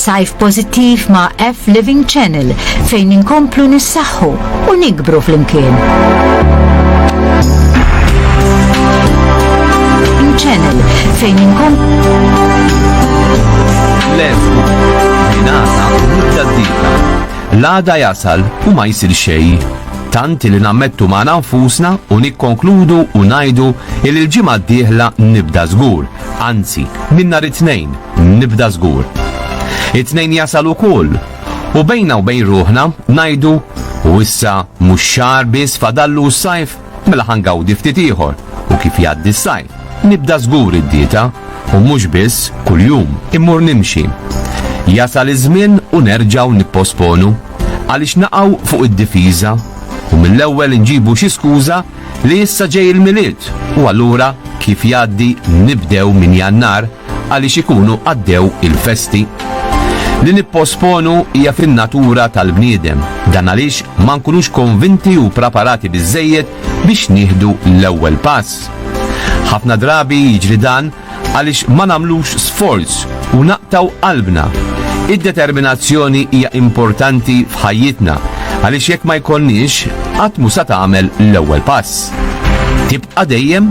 Sajf pożittiv ma' F Living Channel fejn inkomplu nissaħħu u nikbru flimkien. Channel fejn inkomplu L-F, Minasa, Muttadita. L-għada jasal u ma jsir xejn. Tant li nammettu magħna nfusna u nikkonkludu u ngħidu li l-ġimgħa d-dieħla nibda żgur, anzi, minn nhar it-Tnejn nibda żgur. It-Tnejn jasal ukoll u bejna u bejn ruħna ngħidu u issa mhux xahar biss fadallu s-sajf? Mela ħa ngawdi ftit ieħor u kif jgħaddi s-sajf, nibda żgur id-dieta u mhux biss kuljum immur nimxi. Jasal iż-żmien u nerġgħu nipposponu? Għaliex naqgħu fuq id-difiża u mill-ewwel inġibu xi skuża li issa ġej il-Milied u allura kif jgħaddi nibdew minn Jannar għaliex ikunu għaddew il-festi. Li nipposponu hija fin-natura tal-bniedem, dan għaliex ma nkunux konvinti u praparati biżejjed biex nieħdu l-ewwel pass. Ħafna drabi jiġri dan għaliex ma nagħmlux sforz u naqtaw qalbna. Id-determinazzjoni hija importanti f'ħajjitna għaliex jekk ma jkollniex qatt mu sa tagħmel l-ewwel pass. Tibqa' dejjem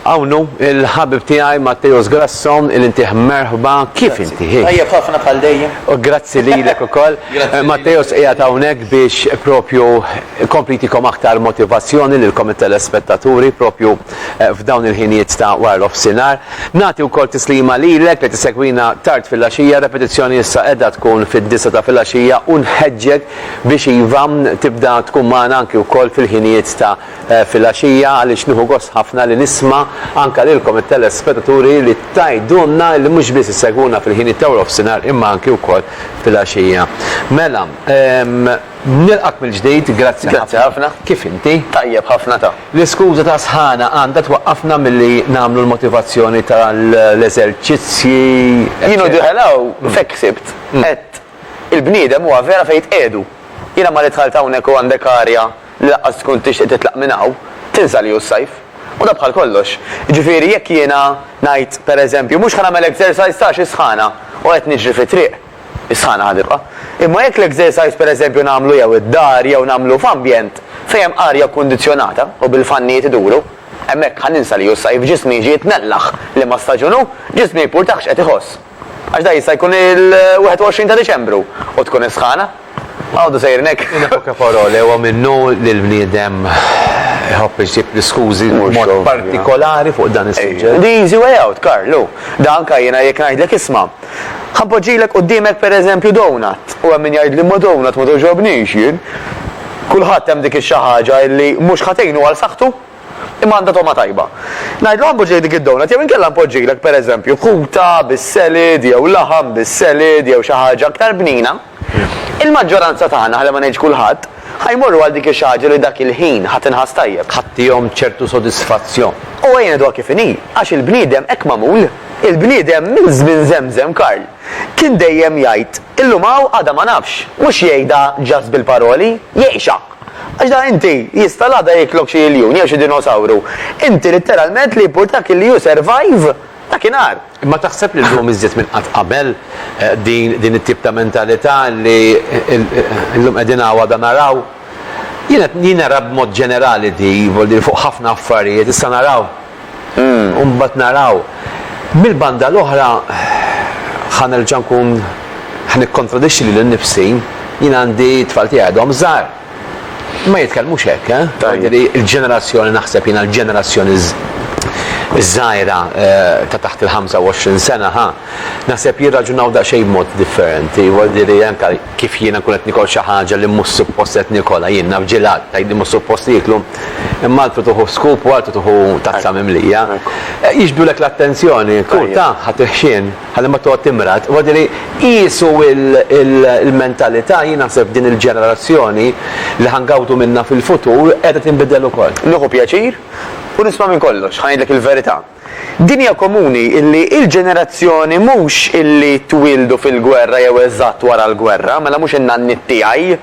Hawn hu l-ħabib tiegħi Matteus Grasso li ntih merħba. Kif inti? Tajjeb ħafna bħal dejjem. U grazzi lilek ukoll. Matteus qiegħed hawnhekk biex propju jkompli jtikom aktar motivazzjoni lilkom it-telespettaturi propju f'dawn il-ħinijiet ta' wara nofsinhar. Nagħti wkoll tislima lilek li tissegwina tard filgħaxija, repetizzjoni issa qiegħda tkun fid-disgħa ta' filgħaxija u nħeġġek biex iva tibda tkun magħna anki wkoll fil-ħinijiet ta' filgħaxija għaliex nieħu gost ħafna li nisma' anke lilkom it-telespetaturi li tgħidulna li mhux biss issegwuna fil-ħinijiet ta' warofsinhar imma anke wkoll filgħaxija. Mela, nilqgħek mill-ġdid, grazzi ħafna. Grazzi ħafna. Kif inti? Tajjeb ħafna ta. L-iskuża ta' sħana għandha twaqqafna milli nagħmlu l-motivazzjoni tal-eżerċizzji. Jien u Diħel hawn f'hekk ħsibt. Qed Il-bniedem huwa vera fejn jitqiegħdu. Jiena malli dħalt hawnhekk u għandek arja li laqqas tkun tixtieq titlaq minn hawn, tinsa li hu s-sajf. U dan bħal kollox. Jiġifieri jekk jiena ngħid, per eżempju, mhux ħa nagħmel exercise ta' għax is-sħana u qed niġri fit-triq, is-sħana ħa tibqa'. Imma jekk l-exercise per eżempju nagħmlu jew id-dar jew nagħmlu f'ambjent fejn hemm arja kundizzjonata u bil-fannijiet iduru, hemmhekk ħa ninsa li hu s-sajf, ġismi jiġi jitnellaħ liema staġun hu, ġismi jipurtah x'qed iħoss. Għax dak jista' jkun il-21 ta' Diċembru u tkun is-sħana. Għodu sejrin hekk. In a poche parole, huwa minnu li l-bniedem iħobb iġib l-iskużi b'mod partikolari fuq dan is-suġġett. The easy way out, Karl, hu. Da anke jiena jekk ngħidlek isma', ħa npoġġilek quddiemek pereżempju donut, u hemm min jgħidli ma donut ma togħġobnix jien. Kulħadd hemm dik ix-xi ħaġa illi mhux ħa tgħinu għal saħħtu. Imma għandha togħma tajba. Ngħidlu Għambu ġej dik id-donut jew inkella npoġġilek, pereżempju, kuta bis-selid jew laħam bis-selid jew xi ħaġa aktar bnina, il-maġġoranza tagħna, ħalli ma ngħidx kulħadd, ħa jmorru għal dik ix-xi ħaġa li dak il-ħin ħa tinħass tajjeb. Ħa tihom ċertu sodisfazzjon. U ejja ngħiduha kif inhi, għax il-bniedem hekk magħmul. Il-bniedem minn żmien żemżem, Karl, kien dejjem jgħid, illum hawn għada ma nafx. Mhux jgħidha just bil-paroli, jgħixha. Għax da inti, jista' l-għada jiklok xi iljun jew xi dinosawru. Inti litteralment li jimpurtak illi you survive dakinhar. Imma taħseb li llum iżjed minn qatt qabel din it-tip ta' mentalità li llum qegħdin hawn għada naraw? Jien qed, jien nara b'mod ġenerali di, fuq ħafna affarijiet, issa naraw. u mbagħad naraw. Mill-banda l-oħra ħa nerġa' nkun ħa nikkontradixxi lili nnifsi, jien għandi t-tfal tiegħi għadhom żgħar. Ma jitkellmux hekk, eh? Tajjeb. Il-ġenerazzjoni naħseb jiena l-ġenerazzjoni ż-żgħira ta' taħt il-25 sena, ħa. Naħseb jirraġunaw daqsxejn b'mod differenti. Huwa diri anke kif jiena nkun qed nikol xi ħaġa li mhux suppost qed nikolha. Jien naf ġilat, tgħid li mhux suppost jieklu, imma altru tuħu scoop u altru tuħu tazza mimlija. Jixbdulek l-attenzjoni, tkun taf ħa tiħxien ħalli ma toqgħod timrad. Huwa diri qiesu l-mentalità, jien naħseb f'din il-ġenerazzjoni li ħa ngawdu minnha fil-futur qiegħda tinbidel ukoll. Nieħu pjaċir u nisma' minn kollox. Ħa ngħidlek il-verità. Dinja komuni illi il-ġenerazzjoni mhux illi twieldu fil-gwerra jew eżatt wara l-gwerra, mela mhux in-nanniet tiegħi,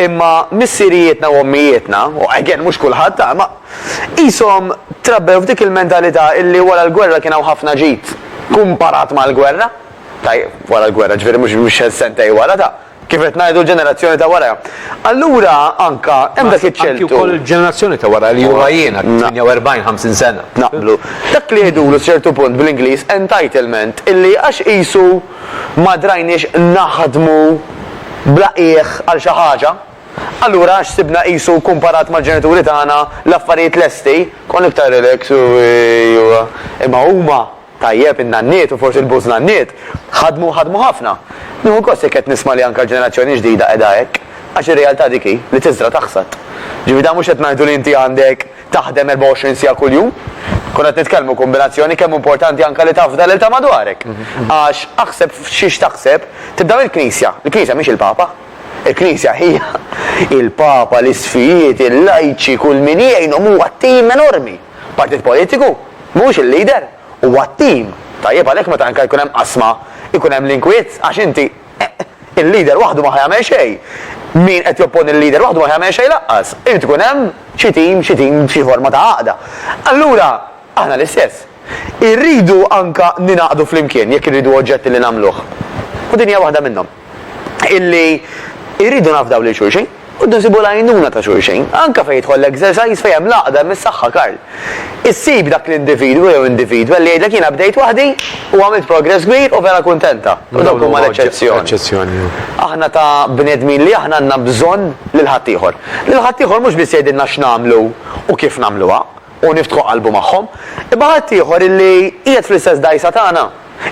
imma missirijietna u ommijietna, u again mhux kulħadd ha, imma qishom trabbew f'dik il-mentalità illi wara l-gwerra kien hawn ħafna ġid kumparat mal-gwerra, tajjeb, wara l-gwerra, ġifieri mhux sentej wara, ta. Kif qed ngħidu l-ġenerazzjoni ta' wara. Allura anka hemm dak iċ-ċertu. Anki wkoll il-ġenerazzjoni ta' wara li huma jiena 48, 50 sena. Naqblu. Dak li jgħidulu ċertu punt bl-Ingliż entitlement illi għax qisu ma drajniex naħdmu bla qiegħ għal xi ħaġa, allura għax sibna qisu kumparat mal-ġenituri tagħna l-affarijiet lesti, konna iktar relax u imma huma Tajjeb, in-nanniet u forsi l-bużnanniet ħadmu u ħadmu ħafna. Nieħu gost jekk qed nisma' li anke l-ġenerazzjoni ġdida qiegħda hekk, għax ir-realtà dik hi, li tiżra' taħsad. Ġifieri dan mhux qed ngħidu li inti għandek taħdem 24 siegħa kuljum. Konna qed nitkellmu kombinazzjoni kemm hu importanti anke li tafda lil ta' madwarek. Għax aħseb f'xiex taħseb tibda mill-Knisja. Il-Knisja mhix il-Papa. Il-Knisja hija il-Papa, l-isfijiet, il-lajċi, kull min jgħinhom huwa tim enormi. Partit politiku mhuwiex il-leader, huwa t-tim. Tajjeb għalhekk meta anke jkun hemm qasma jkun hemm l-inkwiet għax inti il-leader waħdu ma ħa jagħmel xejn. Min qed jopponi l-leader waħdu ma ħa jagħmel xejn lanqas. Irid ikun hemm xi tim, xi tim, xi forma ta' għaqda. Allura aħna l-istess. Irridu anke ningħaqdu flimkien jekk irridu oġġetti li nagħmluh. U din hija waħda minnhom. illi irridu nafdaw lil xulxin u rridu nsibu l-għajnuna ta' xulxin, anke fejn jidħol l-exercise fejn hemm l-għaqda, hemm is-saħħa Karl. Issib dak l-individwu jew individwa li jgħidlek jiena bdejt waħdi u għamilt progress kbir u vera kuntenta. U dawk huma l-eċċezzjoni. Aħna ta' bnedmin li aħna għandna bżonn lil ħaddieħor. Lil ħaddieħor mhux biss jgħidilna x'nagħmlu u kif nagħmluha, u niftħu qalbu magħhom, imma ħadd ieħor illi qiegħed fl-istess dgħajsa tagħna,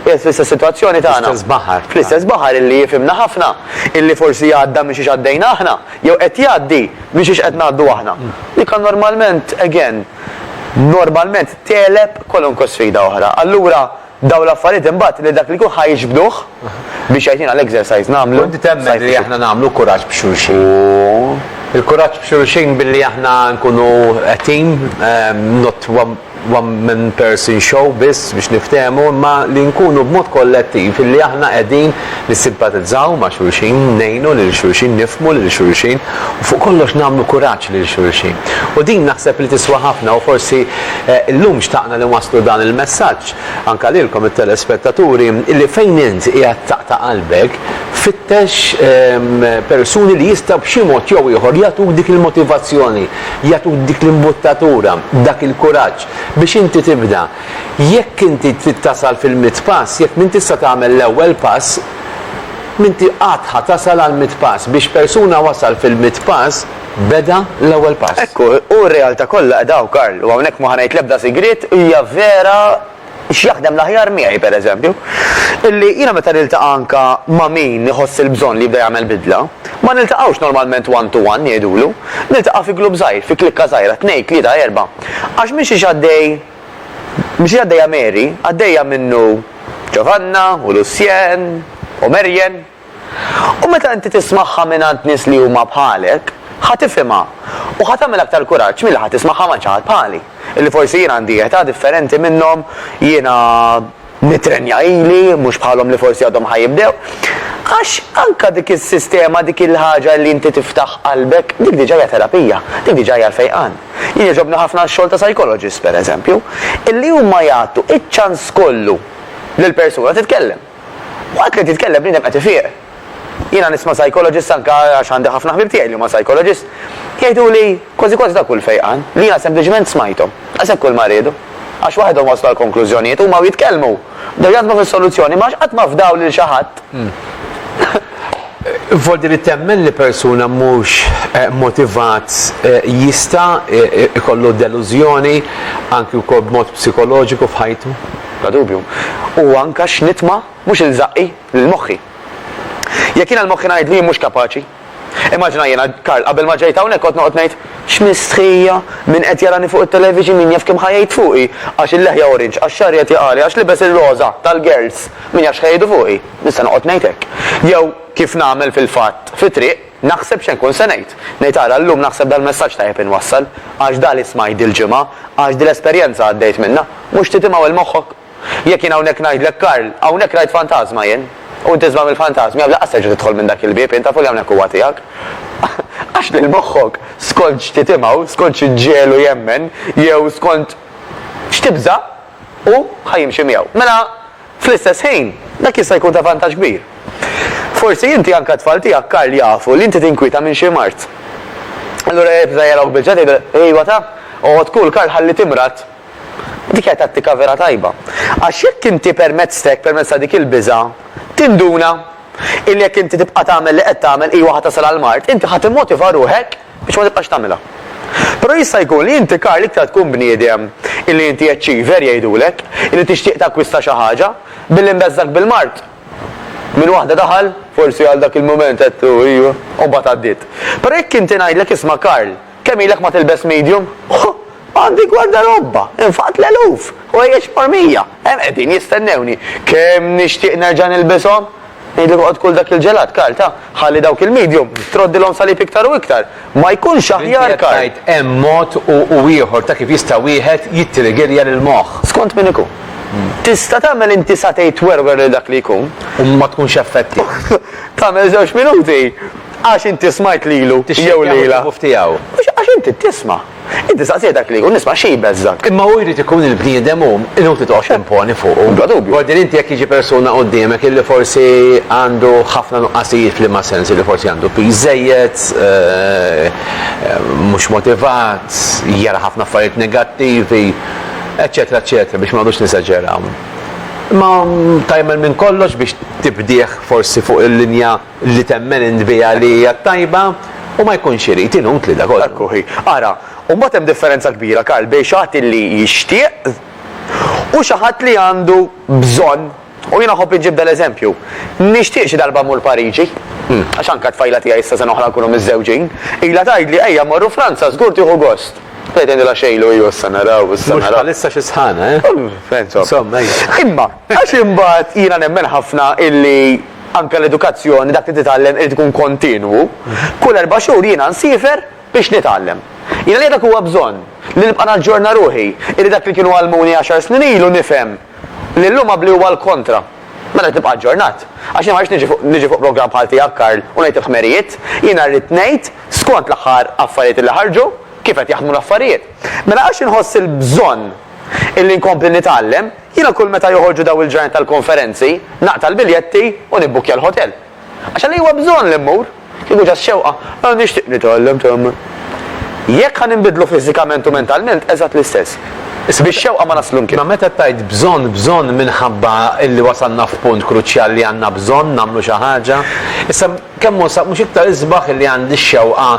qiegħed fl-istess sitwazzjoni tagħna, Fl-istess baħar. fl-istess baħar illi jifhimna ħafna, illi forsi għadda minn xiex għaddejna aħna, jew qed jgħaddi minn xiex qed ngħaddu aħna. Dik għandha normalment, again, normalment tegħleb kwalunkwe sfida oħra. Allura, Dawn l-affarijiet imbagħad lil dak li jkun ħa jiġbduh biex jgħidilna l-exercise nagħmlu. U inti temmen li aħna nagħmlu kuraġġ b'xulxin? U. Il-kuraġġ b'xulxin billi aħna nkunu a team, not one man person show biss biex niftehmu, imma li nkunu b'mod kollettiv li aħna qegħdin nissimpatizzaw ma' xulxin, ngħinu lil xulxin, nifhmu lil xulxin u fuq kollox nagħmlu kuraġġ lil xulxin. U din naħseb li tiswa ħafna u forsi llum xtaqna li nwasslu dan il-messaġġ anke lilkom it-telespettaturi li fejn int qiegħed taqta' qalbek fittex persuni li jistgħu b'xi mod jew ieħor jagħtuk dik il-motivazzjoni, jagħtuk dik l-imbuttatura, dak il-kuraġġ biex inti tibda. Jekk inti trid tasal fil-mitt pass, jekk m'intix se tagħmel l-ewwel pass, m'inti qatt ħa tasal għall-mitt pass. Biex persuna wasal fil-mitt pass, beda l-ewwel pass. Hekk hu, u r-realtà kollha qiegħda hawn, Karl, u hawnhekk ma ħa ngħid l-ebda sigriet, hija vera x'jaħdem l-aħjar miegħi, pereżempju, illi jiena meta niltaqa' anke ma' min iħoss il-bżonn li jibda jagħmel bidla, ma niltaqgħux normalment one to one, jgħidulu, niltaqa' fi glupp żgħir, fi klikka żgħira, tnejn, tlieta, erbgħa. Għax mhixiex għaddej, mhixiex għaddejja Mary, għaddejja minnu Ġovanna u Lucien u Marian. U meta inti tismagħha mingħand nies li huma bħalek, ħa tifhimha u ħa tagħmel aktar kuraġġ milli ħa tismagħha mgħand xi ħadd bħali, illi forsi jien għandi età differenti minnhom, jiena, Nitrenja ili, mhux bħalhom li forsi għadhom ħa jibdew. Għax anke dik is-sistema, dik il-ħaġa li inti tiftaħ qalbek, dik diġà hija terapija, dik diġà hija l-fejqan. Jien jogħġobni ħafna x-xogħol ta' psychologists, per eżempju, illi huma jagħtu iċ-ċans kollu lill-persuna titkellem. Waqt li titkellem bniedem qed ifieq. Jiena nisma' psychologist anke għax għandi ħafna ħbieb tiegħi li huma psychologist, jgħiduli kważi kważi ta' kull fejqan, li jiena sempliċement smajthom. Daqshekk kull ma riedu. Għax waħedhom waslu għal konklużjonijiet, huma u jitkellmu. Bdew jaħdmu fis-soluzzjoni, imma għax qatt ma fdaw lil xi ħadd. Voldi li temmen li persuna mhux motivat jista' jkollu delużjoni anki wkoll b'mod psikoloġiku f'ħajtu? Bla dubju. U anke x'nitma' mhux il-żaqqi. lil moħħi. Jekk jiena l-moħħi ngħidlu jien mhux kapaċi. Immaġina jiena, Karl, qabel ma ġejt hawnhekk kont noqgħod ngħid, X'mistħija! Min qed jarani fuq it-television, min jaf kemm ħa jgħid fuqi! Għax il-leħja orange, għax xagħri qed jaqali, għax libes ir-roża, tal-girls, min jaf x'ħa jgħidu fuqi! Nista' noqgħod ngħid hekk. Jew, kif nagħmel fil-fatt, fit-triq, naħseb x'se nkun se ngħid. Ngħid ara llum naħseb dal-messaġġ tajjeb inwassal, għax da li smajt dil-ġimgħa, għax dil-esperjenza għaddejt minnha. Mhux titimgħu 'l moħħok? Jekk jien hawnhekk ngħidlek Karl, hawnhekk rajt fantażma jien, u int isma' mill-fantażmi hawn lanqas terġa' tidħol minn dak il-bieb int, tafu li hawnhekk huwa tiegħek. Għax lil moħħok, skont x'ti timgħu, skont xi ġġegħlu jemmen, jew skont x'tibża', hu ħa jimxi miegħu. Mela, fl-istess ħin, dak jista' jkun ta' vantaġġ kbir. Forsi inti, anke t-tfal tiegħek Karl jafu li inti tinkwieta minn xi mard. Allura jibża' jarahk biċċa tgħidilhom, Ejwa ta, oqgħod kul Karl ħalli timrad, Dik hija tattika vera tajba. Għax jekk inti permezz t'hekk, permezz ta' dik il-biża', tinduna illi jekk inti tibqa' tagħmel li qed tagħmel iva ħa tasal għall-mard, inti ħa timmotiva ruħek biex ma tibqax tagħmilha. Però jista' jkun li inti Karl iktar tkun bniedem illi inti achiever jgħidulek, illi tixtieq takkwista xi ħaġa, billi mbeżżgħek bil-mard. Minn waħda daħal, forsi għal dak il-mument għedtu iva, u mbagħad għaddiet. Però jekk inti ngħidlek isma' Karl, Kemm ilek ma tilbes medium? Huh! Għandi gwardarobba! Infaqt l-eluf! Ħwejjeġ mormija! Hemm qegħdin jistennewni! Kemm nixtieq nerġa' nilbishom! Ngħidlek oqgħod kul dak il-ġelat, Karl, ta? Ħalli dawk il-medium troddilhom salib iktar u iktar! Ma jkunx aħjar, Karl? Inti qed tgħid hemm mod u ieħor ta' kif jista' wieħed jittrigerja lill-moħħ. Skont min ikun. Tista' tagħmel inti satay twerwer lil dak li jkun. U ma tkunx effettiv. Tagħmel żewġ minuti. Għax inti smajt lilu jew lilha. Mhux għax inti tisma'. Inti staqsejt dak li jkun isma' xi jbeżżgħek. Imma hu jrid ikun il-bniedem hu, inutli toqgħod timponi fuqu. Bla dubju. Wardin inti jekk jiġi persuna quddiemek illi forsi għandu ħafna nuqqasijiet f'liema sens, illi forsi għandu piż żejjed, mhux motivat, jara ħafna affarijiet negattivi, eċċetera eċċetera biex ma noqgħodux nesaġeraw. Imma tagħmel minn kollox biex tibdih forsi fuq il-linja li temmen int biha li hija t-tajba, u ma jkunx irid, inutli da kollu. Hekk hi. Ara, u mbagħad hemm differenza kbira, Karl, bejn xi ħadd li jixtieq u xi ħadd li għandu bżonn. U jiena nħobb inġib dal-eżempju. Nixtieq xi darba mmur Pariġi, għax anke t-tfajla tiegħi issa sena oħra nkunu miżżewġin, ilha tgħidli ejja mmorru Franza żgur tieħu gost. Bdejt ngħidilha xejlu iju issa naraw, issa naraw. Mhux bħalissa xi sħana, eh? Insomma. Insomma, ejja. Imma għax imbagħad jiena nemmen ħafna illi, anke l-edukazzjoni, dak li titgħallem irid ikun kontinwu. Kull erba' xhur jiena nsiefer biex nitgħallem. Jiena li dak huwa bżonn, li nibqa' naġġorna ruħi, illi dak li kienu għallmuni għaxar snin ilu nifhem li llum għabli huwa l-kontra. Mela rrid nibqa' aġġornat. Għax jiena ma rridx niġi fuq niġi fuq programm bħal tiegħek Karl u ngħid il-ħmerijiet, jiena rrid ngħid skont l-aħħar affarijiet illi ħarġu, kif qed jaħdmu l-affarijiet. Mela għax inħoss il-bżonn illi nkompli nitgħallem, Jiena kull meta joħorġu dawn il-ġranet tal-konferenzi, naqta' l-biljetti u nibbukkja l-ħotel. Għax għaliex huwa bżonn li mmur? Kieku ġa x-xewqa, ah, nixtieq nitgħallem tgħammar. Jekk ħa ninbidlu fiżikament u mentalment, eżatt l-istess. Bix-xewqa ma naslu mkien. Imma meta tgħid bżonn, bżonn minħabba li wasalna f'punt kruċjali li għandna bżonn nagħmlu xi ħaġa. Issa, kemm hu sa, mhux iktar isbaħ li għandi x-xewqa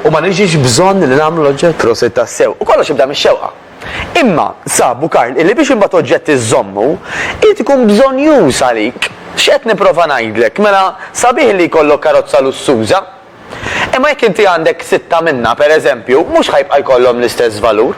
u ma niġix bżonn li nagħmlu l-oġġett? Prosit tassew. U kollox jibda mix-xewqa. Imma, sabu Karl, illi biex imbagħad oġġett iżżommu, irid ikun bżonnjuż għalik. X'qed nipprova ngħidlek? Mela, sabiħ li jkollok karozza lussuża. Imma jekk inti għandek sitta minnha, per eżempju, mhux ħa jibqa' jkollhom l-istess valur.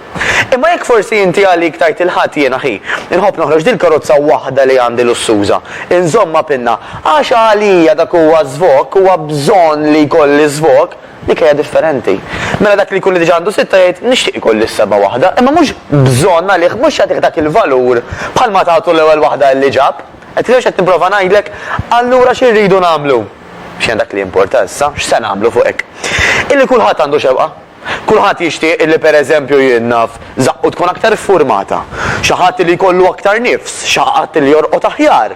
Imma jekk forsi inti għalik tgħid il-Ħadd jien aħi, inħobb noħroġ dil-karozza waħda li għandi lussuża, inżommha pinna, għax għalija dak huwa żvokk, huwa bżonn li jkolli żvokk, Dik hija differenti. Mela dak li jkun li diġà għandu sitta jgħid nixtieq ikolli s-seba' waħda, imma mhux bżonn għalih, mhux jagħtih dak il-valur bħalma tagħtu l-ewwel waħda li ġab. Qed tifhem x'qed nipprova ngħidlek? Allura xi rridu nagħmlu? X'inhi dak li jimporta issa? X'se nagħmlu fuq hekk? Illi kulħadd għandu xewqa. Kulħadd jixtieq illi pereżempju jien naf żaqqu tkun aktar iffurmata, xi ħadd li jkollu aktar nifs, xi ħadd li jorqod aħjar.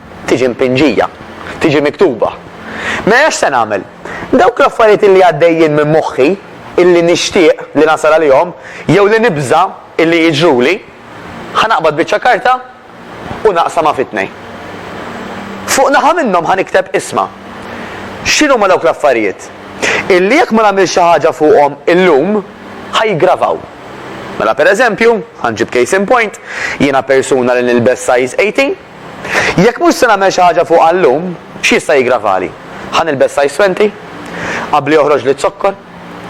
tiġi mpinġija, tiġi miktuba. Mela x'se nagħmel? Dawk l-affarijiet illi għaddejjin minn moħħi, illi nixtieq li nasal għalihom, jew li nibża' illi jiġruli, ħa naqbad biċċa karta u naqsamha fi tnejn. Fuq naħa minnhom ħa nikteb isma'. X'inhuma dawk l-affarijiet? Illi jekk ma nagħmilx xi ħaġa fuqhom illum, ħa jiggravaw. Mela pereżempju, ħa nġib case in point, jiena persuna li nilbes size 18, Jekk mhux se nagħmel xi ħaġa fuqha llum, x'jista' jiggravali? Ħa nilbes size twenti? Qabli joħroġli z-zokkor?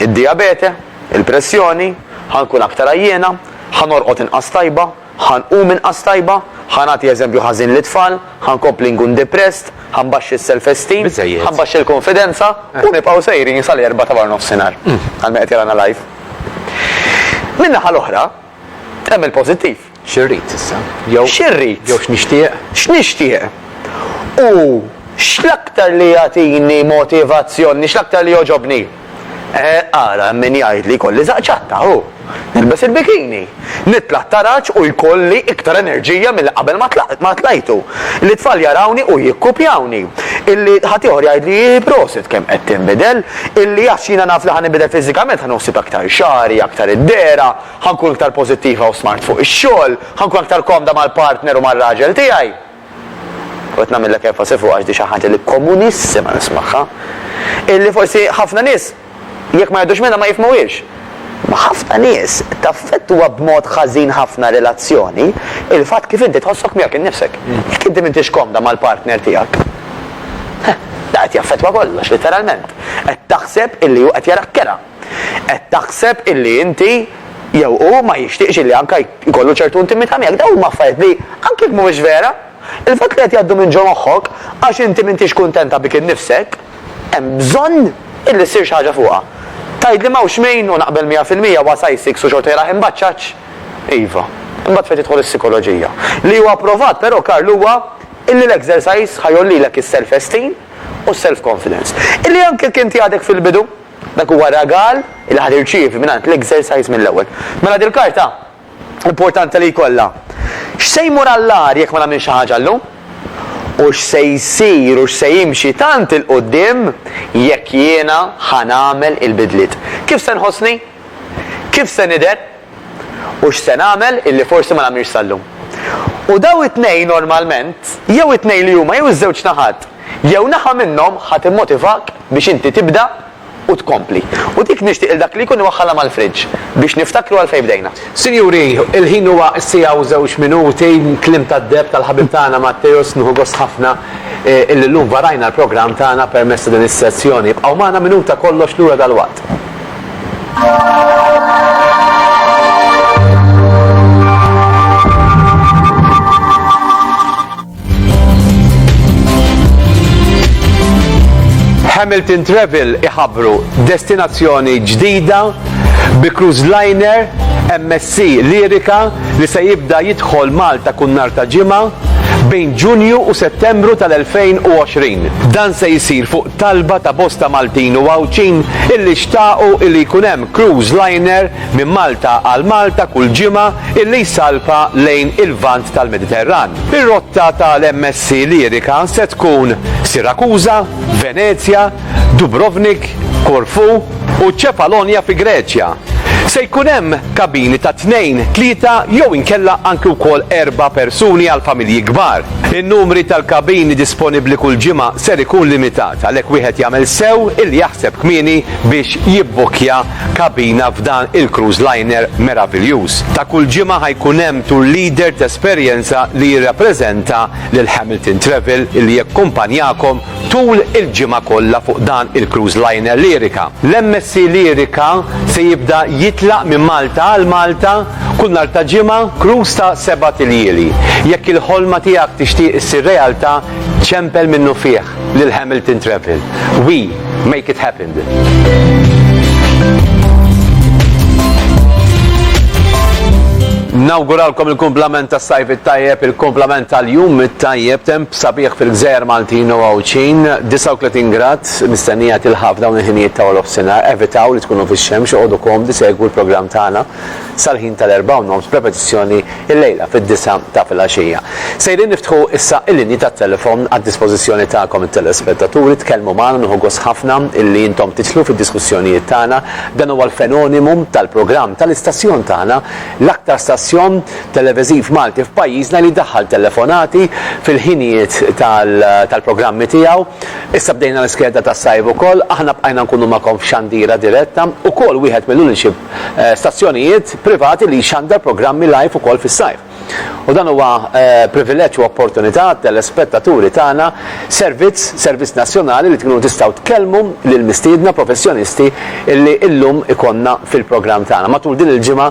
Id-dijabete? Il-pressjoni? Ħa nkun aktar għajjiena? Ħa norqod inqas tajba? Ħa nqum inqas tajba? Ħa nagħti eżempju ħażin lit-tfal? Ħa nkompli nkun depressed? Ħa nbaxxi s-self-esteem? Ħa nbaxxi l-kunfidenza? U nibqgħu sejrin sal-Erbgħa ta' waranofsinhar, għal min qed jarana live. Min-naħa l-oħra, hemm il-pożittiv. Xi rrid issa? Jew. Xi rrid? Jew x'nixtieq? X'nixtieq? U x'l-aktar li jagħtini motivazzjoni, x'l-aktar li jogħġobni? Eh, ara, hemm min jgħid li jkolli żaqq ċatta, hu. Nilbes il-bikini. Nitla' t-taraġ u jkolli iktar enerġija milli qabel ma tlajtu. Li t-tfal jarawni u jikkupjawni. Illi ħaddieħor jgħidli prosit kemm qed tinbidel. Illi għax jiena naf li ħa ninbidel fiżikament ħa noħsib aktar xagħri, aktar id-dehra. Ħa nkun iktar pożittiva u smart fuq ix-xogħol, ħa nkun aktar komda mal-partner u mar-raġel tiegħi. U qed nagħmillek enfasi fuqha għax di xi ħaġa li komunissima nismagħha. Illi forsi ħafna nies jekk ma jgħaddux minnha ma jifhmuhiex. Ma ħafna nies taffettwa b'mod ħażin ħafna relazzjoni il-fatt kif inti tħossok miegħek innifsek. Jekk inti m'intix komda mal-partner tiegħek. Da qed jaffettwa kollox, literalment. Qed taħseb illi hu qed jarak kera. Qed taħseb illi inti jew hu ma jixtieqx illi anke jkollu ċertu intimità miegħek. Dawn huma affarijiet li, anke jekk mhumiex vera, il-fatt li qed jgħaddu minn ġo moħħok għax inti m'intix kuntenta bik innifsek, hemm bżonn illi ssir xi ħaġa fuqha. Tgħidli m'hawnx min, u naqbel mija fil-mija, huwa size six u xorta jrah imbaċċaċ? Iva. Imbagħad fejn tidħol is-sikoloġija. Li huwa pprovat però, Karl, huwa illi l-exercise ħa jgħollilek is-self-esteem u s-self-confidence. Illi anke jekk inti għadek fil-bidu, Dak huwa ragal li ħa tirċievi mingħand l-Exercise mill-ewwel. Mela dil-karta importanti li jkollha. X'se jmur għall-agħar jekk ma nagħmilx xi ħaġa llum? U x'se jsir u x'se jimxi tant 'il quddiem jekk jiena ħa nagħmel il-bidliet? Kif se nħossni? Kif se nidher? u x'se nagħmel illi forsi ma nagħmilx sal-lum. U dawn it-tnejn normalment, jew it-tnejn li huma jew iż-żewġ naħat, jew naħa minnhom ħa timmotivak biex inti tibda u tkompli. U dik nixtieq lil dak li jkun iwaħħalha mal-friġġ biex niftakru għalfejn bdejna. Sinjuri, il-ħin huwa siegħa u żewġ minuti, kliem tad-deheb tal-ħabib tagħna Matteus, nieħu gost ħafna illi llum varajna l-programm tagħna permezz ta' din is-sezzjoni. Ibqgħu magħna minuta kollox lura dalwaqt. Hamilton Travel iħabru destinazzjoni ġdida bi cruise liner MSC Lirika li se jibda jidħol Malta kun nar ta' ġimgħa bejn Ġunju u Settembru tal-2020. Dan se jsir fuq talba ta' bosta Maltin u Għawdxin illi xtaqu illi jkun hemm cruise liner minn Malta għal Malta kull ġimgħa illi jsalpa lejn il-Lvant tal-Mediterran. Ir-rotta tal-MSC Lyrica se tkun Sirakuża, Venezja, Dubrovnik, Korfu, u Ċefalonja fi Greċja. Se jkun hemm kabini ta' tnejn, tlieta jew inkella anki wkoll erba' persuni għal familji kbar. In-numri tal-kabini disponibbli kull ġimgħa ser ikun limitat, għalhekk wieħed jagħmel sew illi jaħseb kmieni biex jibbukkja kabina f'dan il-cruise liner meraviljuż. Ta' kull ġimgħa ħa jkun hemm tour leader t'esperjenza li jirrappreżenta lil Hamilton Travel illi jakkumpanjakom Tul il-ġimgħa kollha fuq dan il-cruise liner Lyrica, l-MSC Lyrica se jibda jitlaq minn Malta għal Malta kull nhar ta' ġimgħa, cruise ta' sebat iljieli. Jekk il-ħolma tiegħek tixtieq issir realtà, ċempel minnufih lil Hamilton Travel. We make it happened. Nawguralkom il-kumplament tas-sajf it-tajjeb, il-kumplament tal-jum it-tajjeb, temp Sabiħ fil-Gżejjer Maltin u Għawdxin, 39 grad mistennija tilħaq f'dawn il-ħinijiet ta' warofsinhar. Evitaw li tkunu fix-xemx u qogħdu komdi segwu l-programm tagħna sal-ħin tal-erbgħa u nofs b'repetizzjoni illejla fid-disgħa ta' filgħaxija. Sejrin niftħu issa il-linji tat-telefon għad-dispożizzjoni tagħkom it-telespettaturi, tkellmu magħna nieħu gost ħafna illi intom titlu fid-diskussjonijiet tagħna. Dan huwa l-fenonimu tal-programm tal-istazzjon tagħna, l-aktar stazzjon televiżiv Malti f'pajjiżna li jdaħħal telefonati fil-ħinijiet tal-programmi tiegħu. Issa bdejna l-iskeda tas-sajf ukoll. Aħna bqajna nkunu magħkom f'xandira diretta, ukoll wieħed mill-uniċi stazzjonijiet privati li jxandar programmi live ukoll fis-sajf. U dan huwa privileġġ u opportunità għat-telespettaturi tagħna, servizz, servizz nazzjonali li tkunu tistgħu tkellmu lill-mistiedna professjonisti li llum ikollna fil-programm tagħna. Matul din il-ġimgħa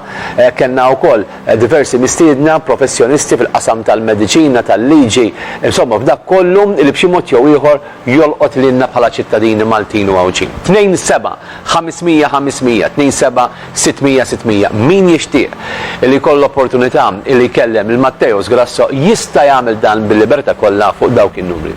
Kellna wkoll diversi mistiedna, professjonisti fil-qasam tal-mediċina, tal-liġi, insomma f'dak kollu li b'xi mod jew ieħor jolqot lilna bħala ċittadini Maltin u Għawdxin. Tnejn seba', ħames mija ħames mija, tnejn seba' sitt mija sitt mija. Min jixtieq li jkollu l-opportunità li jkellem lil Matteos Grasso jista' jagħmel dan bil-libertà kollha fuq dawk in-numri.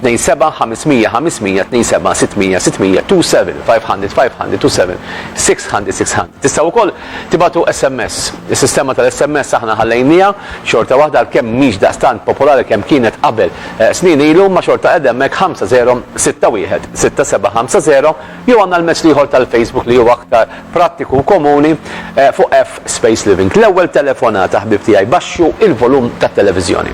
Tnejn seba' ħames mija ħames mija, tnejn seba' sitt mija sitt mija, two seven five hundred five hundred, two seven six hundred six hundred. Tistgħu wkoll tibgħatu SMS. Is-sistema tal-SMS aħna ħallejniha, xorta waħda għalkemm mhix daqstant popolari kemm kienet qabel snin ilu imma xorta qegħda hemmhekk 50616750 jew għandna l-mezz l-ieħor tal-Facebook li hu aktar prattiku u komuni fuq F Space Living. L-ewwel telefonata ħbieb tiegħi baxxu il-volum tat-televiżjoni.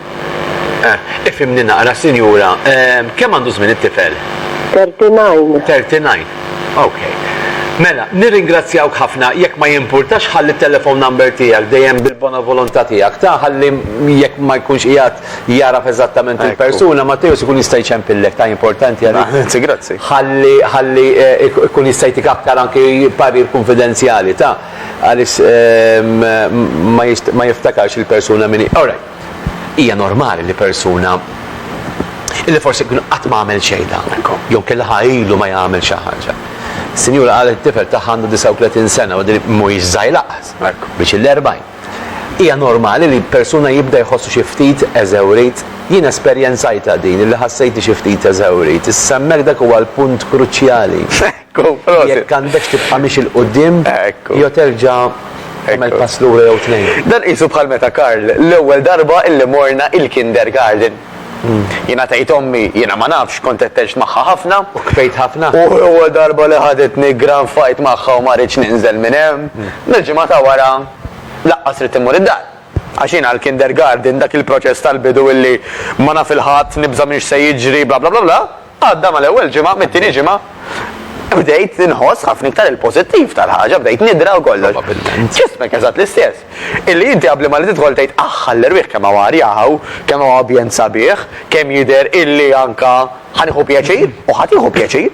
Eh, ifhimni naqra, sinjura, ehm, kemm għandu żmien it-tifel? 39. 39. Ok. Mela, nirringrazzjawk ħafna jekk ma jimpurtax ħalli t-telefon number tiegħek dejjem bil-bona volontà tiegħek ta' ħalli jekk ma jkunx qiegħed jaraf eżattament il-persuna ma tejus ikun jista' jċempillek ta' importanti għalik. Grazzi, grazzi. Ħalli ħalli eh, ik- ikun jista' jtik aktar anki parir konfidenzjali ta' għaliex ehm, ma jist- ma jiftakarx il-persuna minni. Alright. Hija normali li persuna illi forsi kien qatt ma għamel xejn ta' jew kien laħa ilu ma jagħmel xi ħaġa. Sinjura qalet it-tifel tagħha għandu 39 sena u din mhuwiex żgħir laqas, biex il-40. Hija normali li persuna jibda jħossu xi ftit eżewrit. Jien esperjenzajtha din illi ħassejtni xi ftit eżewrit. Issa hemmhekk dak huwa l-punt kruċjali. Jekk għandekx tibqa' miexi 'l quddiem jew terġa' tagħmel pass lura jew tnejn. Dan qisu bħal meta Karl l-ewwel darba illi morna il-kindergarten. Jiena tgħid ommi, jiena ma nafx, kont qed tgħix magħha ħafna. U kbejt ħafna? U l-ewwel darba li ħaditni granfajt magħha u ma ridtx ninżel minn hemm. Mill-ġimgħa ta' wara laqqas ridt immur id-dar. Għax jien għall-kindergarten dak il-proċess tal-bidu illi ma naf 'il ħadd, nibża' minn x'se jiġri bla bla bla bla, Għadda mal-ewwel ġimgħa, mit-tieni ġimgħa bdejt inħoss ħafna iktar il-pożittiv tal-ħaġa, bdejt nidra u kollox. Probabbilment. Ġismek eżatt l-istess. Illi inti qabli ma li tidħol tgħid aħ għall-erwieħ kemm hawn arja hawn, kemm hawn ambjent sabiħ, kemm jidher illi anka ħa nieħu pjaċir u ħa tieħu pjaċir.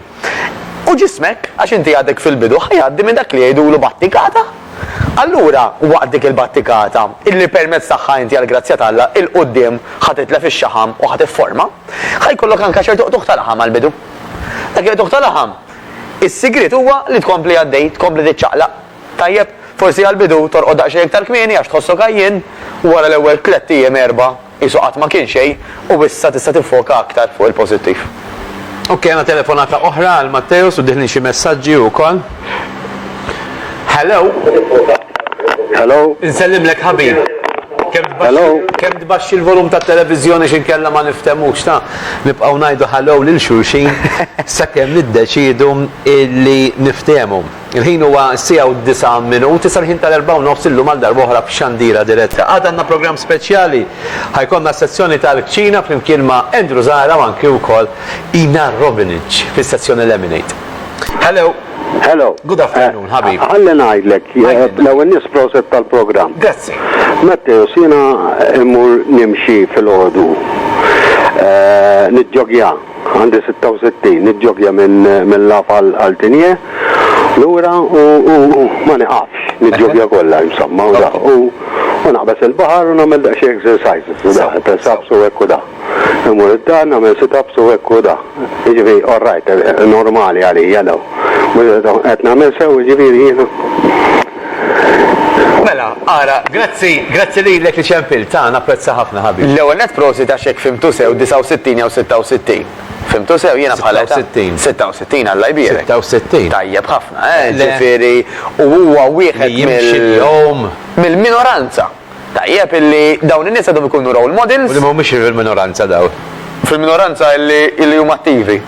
U ġismek, għax inti għadek fil-bidu, ħa jgħaddi minn dak li jgħidulu battikata. Allura, waqt dik il-battikata, illi permezz tagħha inti għall-grazzja t'Alla 'l quddiem ħa titlef ix-xaħam u ħa tifforma, ħa jkollok anke ċertu qtugħ ta' laħam għall-bidu. Dak il-qtugħ ta' laħam, is-sigriet huwa li tkompli għaddej, tkompli tiċċaqlaq. Tajjeb, forsi għall-bidu torqod daqsxejn iktar kmieni għax tħossok għajjien, u wara l-ewwel tlett ijiem, erbgħa, Qisu qatt ma kien xejn u issa tista' tiffoka aktar fuq il-pożittiv. Ok, għandna telefonata oħra għal Matteus u dieħlin xi messaġġi wkoll. Hello? Hello? Insellimlek ħabib. Kemm tbaxxi Hello? kemm tbaxxi l-volum tat-televiżjoni għax inkella ma niftemux ta. Nibqgħu ngħidu hello lil xulxin sakemm niddeċiedu illi niftehmu. Il-ħin huwa s-siegħa u d-disgħa minut, issa l-ħin tal-erbgħa u nofs illum għal darba oħra f'Xandira Diretta. Għada għandna programm speċjali. Ħa jkollna s-sezzjoni tal-kċina flimkien ma' Andrew Zahra u anki wkoll Ina Robinage fis-sezzjoni Lemonade. Hello! Hello. Good afternoon, eh, ħabib. Għalli ngħidlek, eh, l-ewwel nies proset tal-programm. Grazzi. Matteo, sina immur nimxi fil-ħodu. Eh, Nidġogja. Għandi 66, niġġoggja minn minn Laf għal għal Tinie, lura u u u ma niqafx, niġġoggja kollha insomma u da. U u naqbeż il-baħar u nagħmel daqsxejn exercises u da, press ups u hekk u da. Immur id-dar nagħmel sit ups u hekk u da. Jiġifieri all right, normali għalija dawn. Qed nagħmel sew jiġifieri jiena? Mela, ara, grazzi, grazzi lilek li ċempilt, ah, napprezza ħafna ħabib. L-ewwel nett prosit għax jekk fhimtu sew 69 jew 66. Fhimtu sew jiena bħala età. 66. 66 Alla jbierek. 66. Tajjeb ħafna, eh, ġifieri u huwa wieħed mill. Li jimxi l-jum. Mill-minoranza. Tajjeb illi dawn in-nies għadhom ikunu role models. U li mhumiex fil-minoranza dawn. Fil-minoranza illi huma attivi.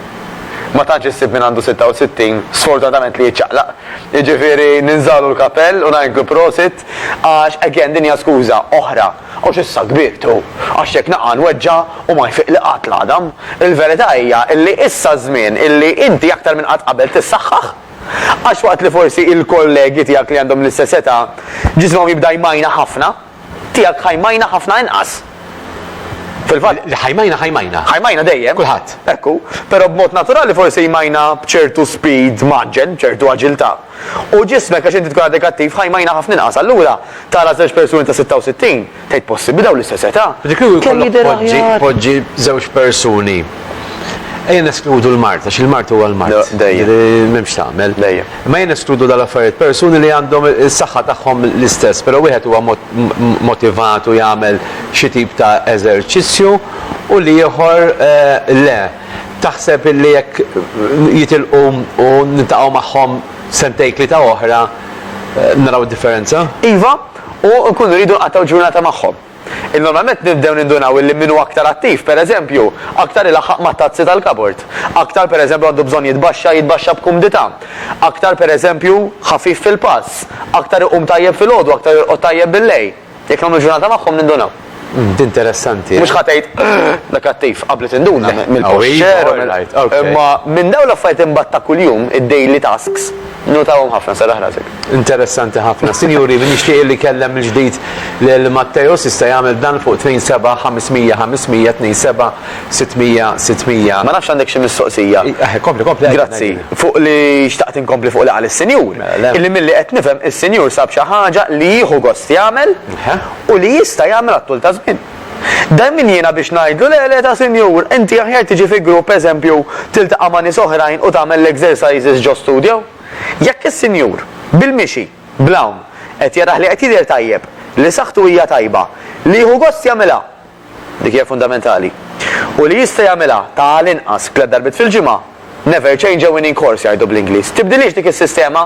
Ma tantx issib min għandu 66, sfortunatament li jiċċaqlaq. Jiġifieri ninżagħlu l-kapell u ngħidlu prosit għax again din hija skuża oħra. Għax issa kbirt hu. Għax jekk naqa' nweġġa' u ma jfiqli qatt l-għadam. Il-verità hija illi issa ż-żmien illi inti aktar minn qatt qabel tissaħħaħ. Għax waqt li forsi il-kollegi tiegħek li għandhom l-istess età ġismhom jibda jmajna ħafna, tiegħek ħa jmajna ħafna inqas. Fil-fatt. Li ħa jmajna ħa jmajna. Ħa jmajna dejjem. Kulħadd. Ekku. Però b'mod naturali forsi jmajna b'ċertu speed maġġen, b'ċertu aġiltà. U ġismek għax inti tkun għadek attiv ħa jmajna ħafna inqas. Allura tara żewġ persuni ta' 66, Tgħid possibbli dawn l-istess età? Dik li kemm jidher aħjar. Poġġi żewġ persuni. Ejja neskludu l-mart, għax il-mart huwa l-mart. Dejjem. M'hemmx tagħmel. Dejjem. Ma ejja neskludu dal-affarijiet persuni li għandhom is-saħħa tagħhom l-istess, però wieħed huwa motivat u jagħmel xi tip ta' eżerċizzju u li ieħor le. Taħseb illi jekk jitilqu u niltaqgħu magħhom sentejn tlieta oħra naraw differenza? Iva, u nkunu rridu nqattgħu ġurnata magħhom. Normalment nibdew nindunaw illi min hu aktar attiv, pereżempju, aktar ilaħħaq mat-tazzi tal-kabord, aktar pereżempju għandu bżonn jitbaxxa jitbaxxa b'kumdità, aktar pereżempju ħafif fil-pass, aktar iqum tajjeb filgħodu, aktar jorqod tajjeb billejl. Jekk nagħmlu ġurnata magħhom nindunaw. Interessanti. Mhux ħa tgħid, Da kattiv, qabli tinduna mill-posture u mill. Imma minn dawn l-affarijiet imbagħad ta' kuljum, id-daily tasks, notahom ħafna, serraħ rasek. Interessanti ħafna. Sinjuri, min jixtieq illi jkellem mill-ġdid lil Matteus jista' jagħmel dan fuq 27 500 500 27 600 600. Ma nafx għandek xi mistoqsija. Kompli, kompli. Grazzi. Fuq li xtaqt inkompli fuq li qal is-Sinjur. Illi milli qed nifhem, is-Sinjur sab xi ħaġa li jieħu gost jagħmel. u li jista' jagħmel għat-tul ta' żmien. Dan min jiena biex ngħidlu le le ta' sinjur, inti aħjar tiġi fi grupp eżempju tiltaqa' ma' nies oħrajn u tagħmel l-exercises ġo studio? Jekk is-sinjur, bil-mixi, bl-hawn, qed jarah li qed jidher tajjeb, li saħħtu hija tajba, li jieħu gost jagħmilha, Dik hija fundamentali. U li jista' jagħmilha ta' għal inqas tliet darbiet fil-ġimgħa, never change a winning course jgħidu bl-Ingliż. Tibdilhiex dik is-sistema,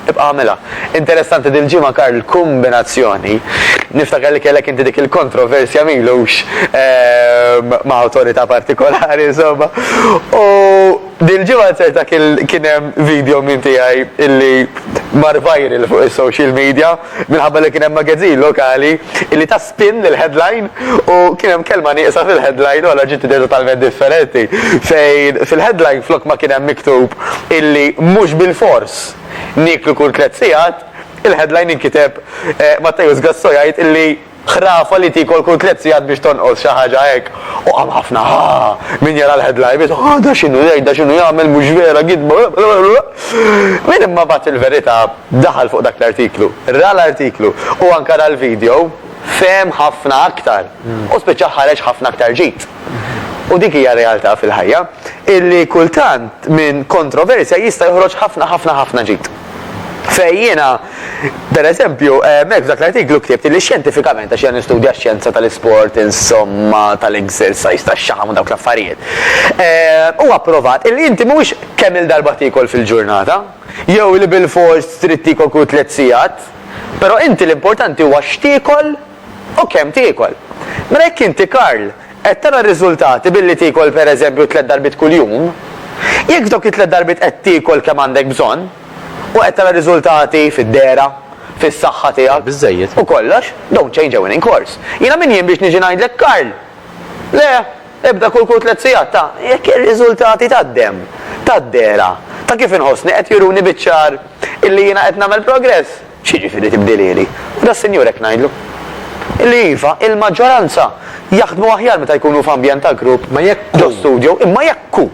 ibqa' agħmilha. Interessanti dil-ġimgħa Karl l-kumbinazzjoni, niftakar li kellek inti dik il-kontroversja m'ilux ma' awtorità partikolari insomma, u dil-ġimgħa ċerta kien hemm video minn tiegħi illi mar viral fuq is-social media, Minħabba li kien hemm magazin lokali li ta spin lill-headline u kien hemm kelma nieqsa fil-headline u allura ġiet idea totalment differenti. Fejn fil-headline flok ma kien hemm miktub illi mhux bilfors nieklu kull tliet sigħat, il-headline inkiteb Matteus Gasso jgħid illi Ħrafa li tiekol kull tliet sigħat biex tonqos, xi ħaġa hekk. U hemm ħafna ha! Min jara l-headline biss, ha da x'inhu jgħid, da x'inhu jagħmel, mhux vera, gidba, blablabla. Min imma bagħat il-verità, daħal fuq dak l-artiklu, ra l-artiklu u anke ra l-video, fehem ħafna aktar u spiċċa ħareġ ħafna aktar ġid. U dik hija r-realtà fil-ħajja, illi kultant minn kontroversja jista' joħroġ ħafna ħafna ħafna ġid. Fejn jiena, per eżempju, hemmhekk f'dak l-artiklu ktibt li xjentifikament, għax jiena nistudja x-xjenza tal-isport, insomma, tal-exercise, tax-xaħam u dawk l-affarijiet, huwa pprovat illi inti mhuwiex kemm-il darba tiekol fil-ġurnata, jew li bilfors trid tiekol kull tliet sigħat, però inti l-importanti huwa x'tiekol u kemm tiekol. Mela jekk inti Karl, Qed tara r-riżultati billi tiekol pereżempju tliet darbiet kuljum? Jekk f'dawk it-tliet darbiet qed tiekol kemm għandek bżonn, u qed tara riżultati fid-dehra, fis-saħħa tiegħek, u kollox, don't change a winning course. Jiena min jien biex niġi ngħidlek Karl! Le, ibda kul kull tliet sigħat ta' jekk ir-riżultati tad-demm, tad-dehra, ta' kif inħossni qed juruni biċ-ċar illi jiena qed nagħmel progress. X'jiġifieri tibdilieli? U das-Sinjur hekk ngħidlu. Li iva, il-maġġoranza jaħdmu aħjar meta jkunu f'ambjent ta' grupp ġo studjo, imma jekk hu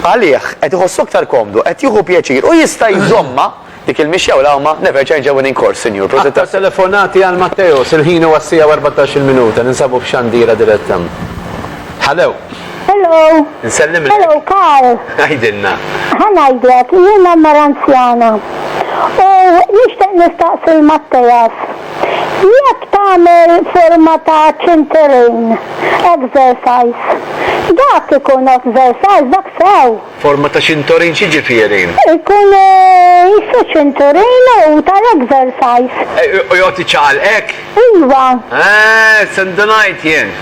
għalih qed iħossu aktar komdu, qed jieħu pjaċir u jista' jżommha dik il-mixja u l-għawma, never change a winning course, Sinjur. Prosit tassew. Aktar telefonati għal Matteos, il-ħin huwa s-siegħa u erbatax-il minuta, ninsabu f'xandira diretta. Hallo. Hello. Nsellimlek. Hello, Karl. Għajdilna. Ħanajdlek, jiena mara anzjana. U nixtieq nistaqsi l-Mattejas. Jekk tagħmel forma ta' ċinterejn exercise, dak ikun exercise dak sew. Forma ta' ċintorin x'jiġifieri? Ikunu jissu ċinturin u ta' l-exercise. U joqgħod iċaqal hekk? Iwa. Eeh, se ndunajt jien.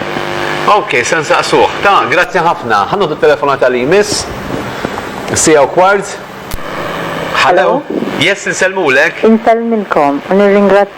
Ok, se nsaqsuh. Ta, grazzi ħafna. Ħa noħdu t-telefonata li jmiss. Siegħa u kwart. Hello? Yes, insellmulek. Insellmilkom u nirringrazzjakom.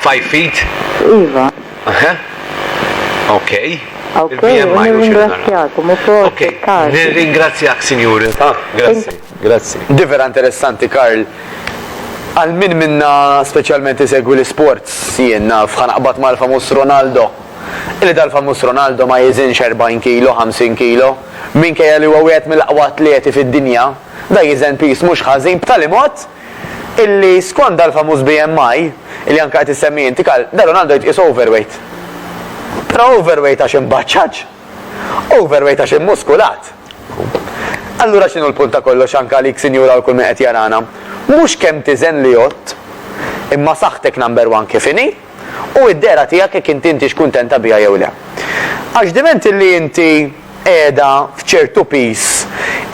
Five feet? Iva. Huh? Okay. Okay, u nirringrazzjakom u proset, Karl. Nirringrazzjak, Sinjur. Ah, grazzi. Grazzi. Di vera interessanti, Karl. Għal min minna speċjalment isegwi l-isports, jien naf ħanaqbad mal-famuż Ronaldo. Illi dal-famuż Ronaldo ma jiżinx 40 kilo, 50 kilo. Minkejja li huwa wieħed mill-aqwa atleti fid-dinja, da jiżen piż mhux ħażin b'tali mod illi skont dal-famuż BMI, illi anke qed issemmi inti Karl, da Ronaldo jitqies overweight. Però overweight għax imbaċċaġ? Overweight għax immuskulat? Allura x'inhu l-punt ta' kollox anke għalik sinjura u l kull min qed jarana? Mhux kemm tiżen li għodt, imma saħħtek number one kif inhi, u d-dehra tiegħek jekk inti intix kuntenta biha jew le. Għax diment illi inti qiegħda f'ċertu piż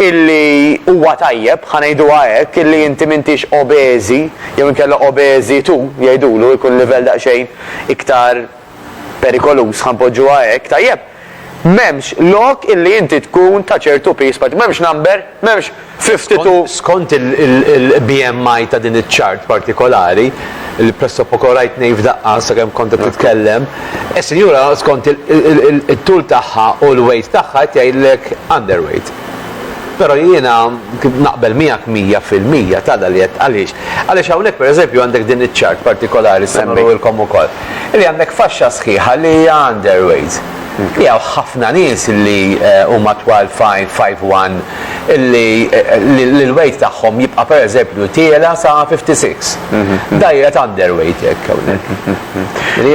illi huwa tajjeb, ħa ngħiduha hekk, illi inti m'intix obeżi jew inkella obeżi tu, jgħidulu, ikun livell daqsxejn iktar perikoluż, ħa npoġġuha hekk, tajjeb, m'hemmx lok illi inti tkun ta' ċertu piż, m'hemmx number, m'hemmx 52 Skont il-BMI ta' din iċ-chart partikolari, li pressopoko rajt ngħid f'daqqa sakemm kont qed titkellem, is-sinjura skont it-tul tagħha u l-weight tagħha qed jgħidlek underweight. Però jiena naqbel miegħek mija fil-mija t'għada li qed għaliex? Għaliex hawnhekk pereżempju għandek din iċ-chart partikolari se nurihilkom ukoll, li għandek faxxa sħiħa li hija underweight. Li hawn ħafna nies li huma twal 5'1", li l-weight tagħhom jibqa' pereżempju tiela' sa 56. Diet underweight hekk hawnhekk. Li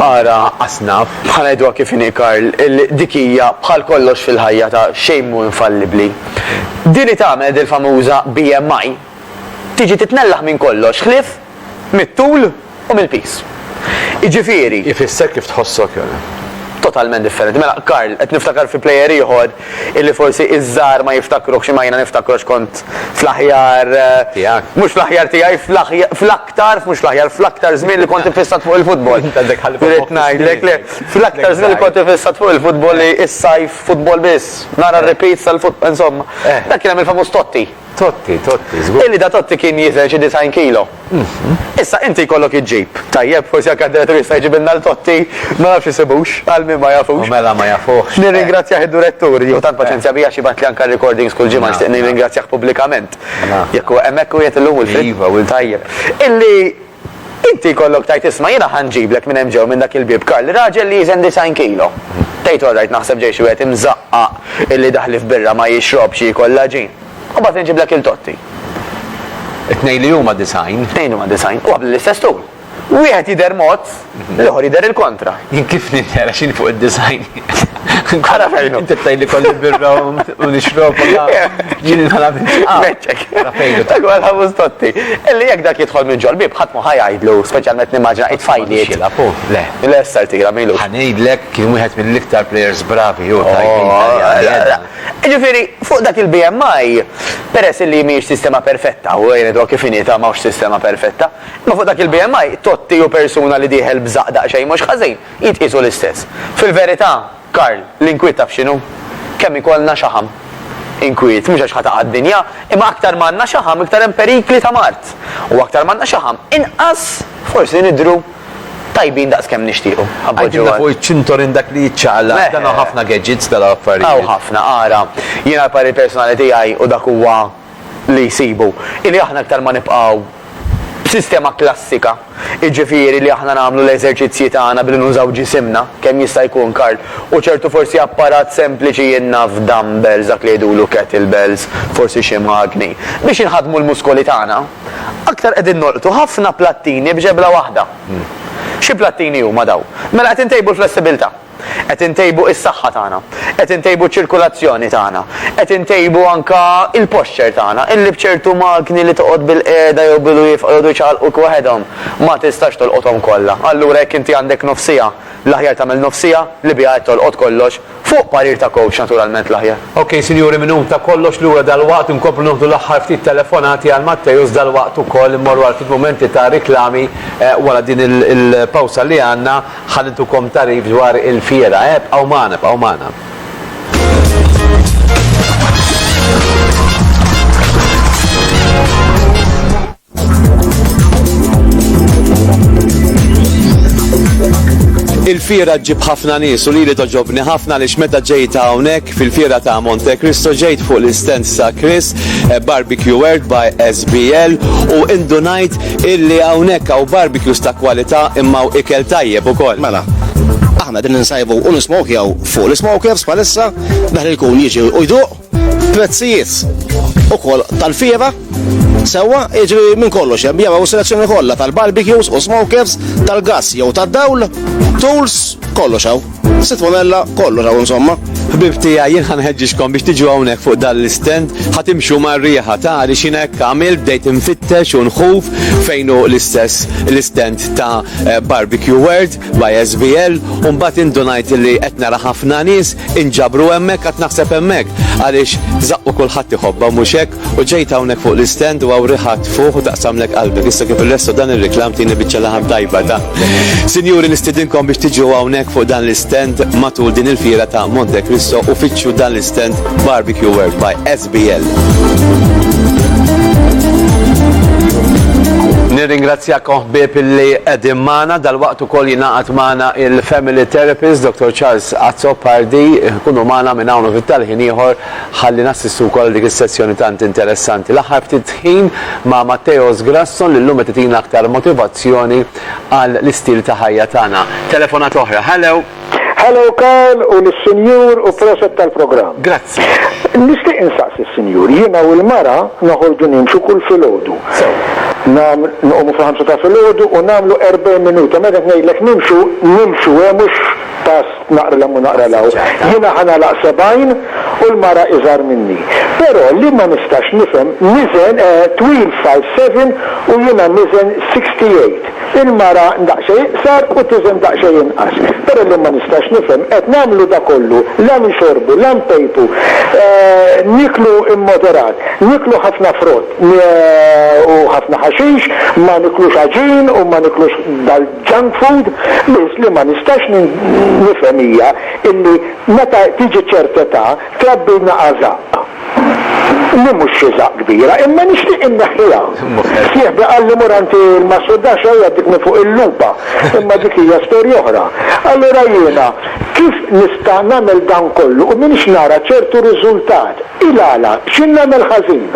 ara asnaf. Bħal ngħiduha kif inhi Karl, dik hija bħal kollox fil-ħajja ta' xejn mhu infallibbli. Din li tagħmel dil-famuża BMI tiġi titnellaħ minn kollox ħlief mit-tul u mill-piż. Jiġifieri. Ifisser kif tħossok jew. Totalment differenti. Mela, Karl, qed niftakar fi plejer ieħor illi forsi iż-żgħar ma jiftakruhx imma jiena niftakru għax kont fl-aħjar, mhux fl-aħjar tiegħi, fl-aktar, mhux fl-aħjar, fl-aktar żmien li kont iffissat fuq il-futbol. Irrid ngħidlek le, fl-aktar żmien li kont iffissat fuq il-futbol li s-sajf futbol biss, nara r-repeats tal-futbol, insomma. Dak kien hemm il-famuż Totti. Totti, Totti, żgur. Illi da Totti kien jiżen xi disgħin kilo. Issa inti jkollok iġġib, tajjeb, forsi anke d-direttur jista' jġibilna 'l Totti, ma nafx isibux, għal min ma jafux. U mela ma jafuhx. Nirringrazzjah id-durettur, jieħu tant paċenzja bija x'jibgħatli anke r-recordings kull ġimgħa nixtieq nirringrazzjah pubblikament. Jekk hu hemmhekk qiegħed illum u l-fri. Iva, u l-fri. Tajjeb. Illi. Inti jkollok tgħid isma' jiena ħa nġiblek minn hemm ġew minn dak il-bieb Karl, raġel li jiżen disgħin kilo. Tgħid orrajt naħseb ġej xi wieħed imżaqqaq illi daħli f'birra ma jixrobx jiekol l-għaġin. U mbagħad inġiblek il Totti. It-tnejn li huma disgħin. It-tnejn huma disgħin. U bl-istess tul. Wieħed jidher mod. L-ieħor jidher il-kontra. Jien kif nidher għax jien fuq id-design. Ara fejnu. Inti tgħidli kolli birra u nixrob jien inħala minn Meċċek. Fejnu. Dak huwa l-ħabus totti. Illi jekk dak jidħol minn ġol bib ħadd ma ħajajdlu, speċjalment nimmaġina it-fajli. Xila, pu, le. Le sar tira milu. Ħanejdlek kien wieħed mill-iktar players bravi u tajjeb. Ġifieri, fuq dak il-BMI, peress li mhijiex sistema perfetta, u jgħidu kif inita mawx sistema perfetta, Imma fuq dak il-BMI, Totti u persuna li dieħel b'żaqq daqsxejn mhux ħażin, jitqiesu l-istess. Fil-verità, Karl, l-inkwiet taf x'inhu? Kemm ikollna xaħam. Inkwiet, mhux għax ħa taqa' d-dinja, imma aktar ma għandna xaħam iktar hemm perikli ta' mard. U aktar ma għandna xaħam, inqas forsi nidhru tajbin daqs kemm nixtiequ. Għidilna fuq iċ-ċintorin dak li jiċċaqlaq, dan hawn ħafna gadgets, dan hawn affarijiet. Hawn ħafna, ara, jiena l-parir personali tiegħi u dak huwa, li jsibu, hi li aħna iktar ma nibqgħu b'sistema klassika, jiġifieri li aħna nagħmlu l-eżerċizzji tagħna billi nużaw ġisimna, kemm jista' jkun, Karl, u ċertu forsi apparat sempliċi jien naf dumbbells dak li jgħidulu kettlebells, forsi xi magni, biex inħaddmu l-muskoli tagħna, aktar qegħdin nolqtu ħafna plattini b'ġebla waħda. Xi plattini huma dawn? Mela qed intejbu l-flessibilità. Qed intejbu is-saħħa tagħna. Qed intejbu ċ-ċirkulazzjoni tagħna. Qed intejbu anke l-posture tagħna. Illi b'ċertu magni li toqgħod bilqiegħda jew bilwieqfa jqogħdu jċaqalquk waħedhom, ma tistax tolqothom kollha. Allura jekk inti għandek nofs siegħa, l-aħjar tagħmel nofs siegħa li biha qed tolqot kollox, fuq parir ta' coach naturalment l-aħjar. Ok sinjuri minhom ta' kollox lura dalwaqt inkomplu noħdu l-aħħar ftit telefonati għal Matteus dalwaqt ukoll immorru għal ftit mumenti ta' riklami wara din il-pawsa li għandna. Ħalli ntukom tagħrif dwar il-Fiera, eh, bqgħu magħna, bqgħu magħna. Il-fira ġib ħafna nies u lili toġobni ħafna li meta ġejt hawnhekk fil-fira ta' Monte Cristo ġejt fuq l-istens ta' Chris eh, Barbecue World by SBL u indunajt illi hawnhekk hawn barbecues ta' kwalità imma hawn ikel tajjeb ukoll. Mela, aħna din insajbu u nismokjaw fuq l-smokers palissa, daħli l-kun jiġi u jduq, prezzijiet u kol tal-fiera, sewa iġri minn kollox hemm jew selezzjoni kollha tal-barbecues u smokers tal-gas jew tad-dawl, tools kollox hawn. Sit pomella, kollu raw insomma. Ħbib tija, jien ħanħedġiġkom biex tiġu hawnhekk fuq dan l-istend, ħatimxu mar-riħa ta' li xina hekk għamil bdejt infittex u nħuf fejn hu l-istess l-istend ta' eh, Barbecue World by SBL u mbagħad indunajt li qed nara ħafna nies inġabru hemmhekk qed naħseb hemmhekk għaliex zaqqu kulħadd iħobba mhux hekk U ġejt hawnhekk fuq l-istend u hawn riħa tfuħ u taqsamlek qalbek. Issa kif il-resto dan ir-reklam tieni biċċa laħam tajba ta'. Sinjuri nistidinkom biex tiġu hawnhekk fuq dan l-istend matul din il-fiera ta' Monte Cristo u fittxu dan l-istend Barbecue World by SBL. Nirringrazzjakom ħbieb illi qegħdin magħna dal-waqt ukoll jingħaqad magħna il-Family Therapist Dr. Charles Azzopardi, kunu magħna minn hawn u fit-talħin ieħor Ħalli nassistu wkoll għal dik is-sessjoni tant interessanti l-aħħar ftit ħin ma' Matteos Grasson li llum qed itina aktar motivazzjoni għal l-istil ta' ħajja tagħna. Telefonata oħra. Hello! Hello Karl u lis-Sinjur u proset tal-programm. Grazzi. Nixtieq insaqsi s-Sinjur, jiena u l-mara noħorġu nimxu kull filgħodu. Sew. Nam nqumu fil-ħamsa ta' filgħodu u nagħmlu 40 minuta meta ngħidlek nimxu, nimxu hemm mhux pass Naqra 'l hemm u naqra 'l hawn. Jiena ħa nagħlaq sebgħin u l-mara iżgħar minni. Però li ma nistax nifhem, niżen twil five seven u jiena niżen sixty eight. Il-mara daqsxejn iqsar u tiżen daqsxejn inqas. Però li ma nistax nifhem, qed nagħmlu da kollu, la nixorbu, la npejpu, nieklu immoderat, nieklu ħafna frott u ħafna ħaxix, ma niklux għaġin u ma niklux Junk food? Biss li ma nistax nifhem hija illi meta tiġi ċert età trabbilna għażaqq. Li mhux xi żaqq kbira, imma nixtieq inneħħiha. Sieħbi qalli mur għand il-massurdar x'ha jgħaddik minn fuq il-lupa, imma dik hija storja oħra. Allura jiena kif nista' nagħmel dan kollu u m'iniex nara ċertu riżultat? Il-għala? X'in nagħmel ħażin?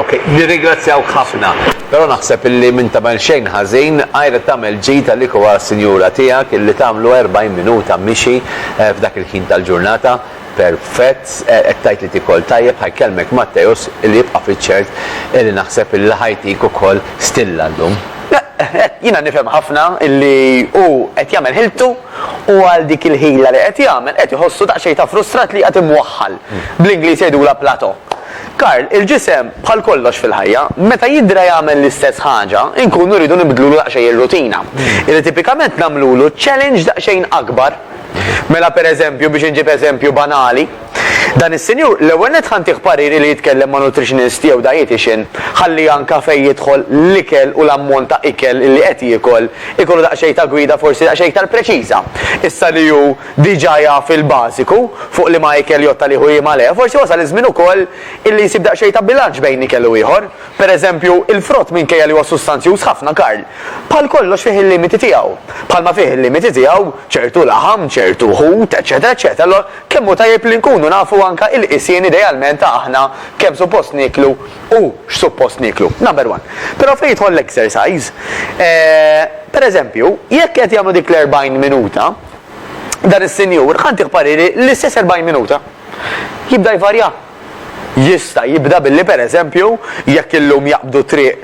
Ok, nirringrazzjawk ħafna. Però naħseb illi m'int tagħmel xejn ħażin, għajr li tagħmel ġid għalik u għas-sinjura tiegħek illi tagħmlu 40 minuta mixi f'dak il-ħin tal-ġurnata, perfett, qed tgħid li tikol tajjeb, ħa jkellmek Matteus illi jibqa' fiċ-ċert illi naħseb illi ħa jtik ukoll stilla llum. Hekk, jiena nifhem ħafna illi hu qed jagħmel ħiltu u għal dik il-ħila li qed jagħmel qed iħossu daqsxejn ta' frustrat li qiegħed imwaħħal. Bl-Ingliż jgħidulha plateau. Karl, Il-ġisem, bħal kollox fil-ħajja, meta jidra jagħmel l-istess ħaġa, inkunu rridu nibdlulu daqsxejn ir-rutina. Irrid tipikament nagħmlulu challenge daqsxejn akbar. Mela pereżempju, biex inġib eżempju banali, dan is-sinjur l-ewwel nett ħa ntiegħ pariri li jitkellem ma' nutritionist jew dietician ħalli anka fejn jidħol l-ikel u l-ammont ta' ikel li qed jiekol ikollu daqsxejn ta' gwida forsi daqsxejn iktar preċiża. Issa li hu diġà jaf il-bażiku fuq liema ikel jew ta' liema le, forsi wasal iż-żmien ukoll illi jsib daqsxejn ta' bilanċ bejn ikel u ieħor. Per eżempju, il-frott minkejja li huwa sustanzjuż ħafna, Karl, bħal kollox fih il-limiti tiegħu. Bħalma fih il-limiti tiegħu ċertu laħam, ċertu ħut, eċċetera eċċetera Allura kemm hu tajjeb li nkunu nafu anke il-qisien idealment ta' aħna kemm suppost nieklu u x'suppost nieklu. Number one. Però fejn jidħol l-exercise, eh, per eżempju, jekk qed jagħmlu dik l-40 minuta, dan is-sinjur ħa ntih pariri l-istess 40 minuta. Jibda jvarja. Jista' jibda billi pereżempju jekk illum jaqbdu triq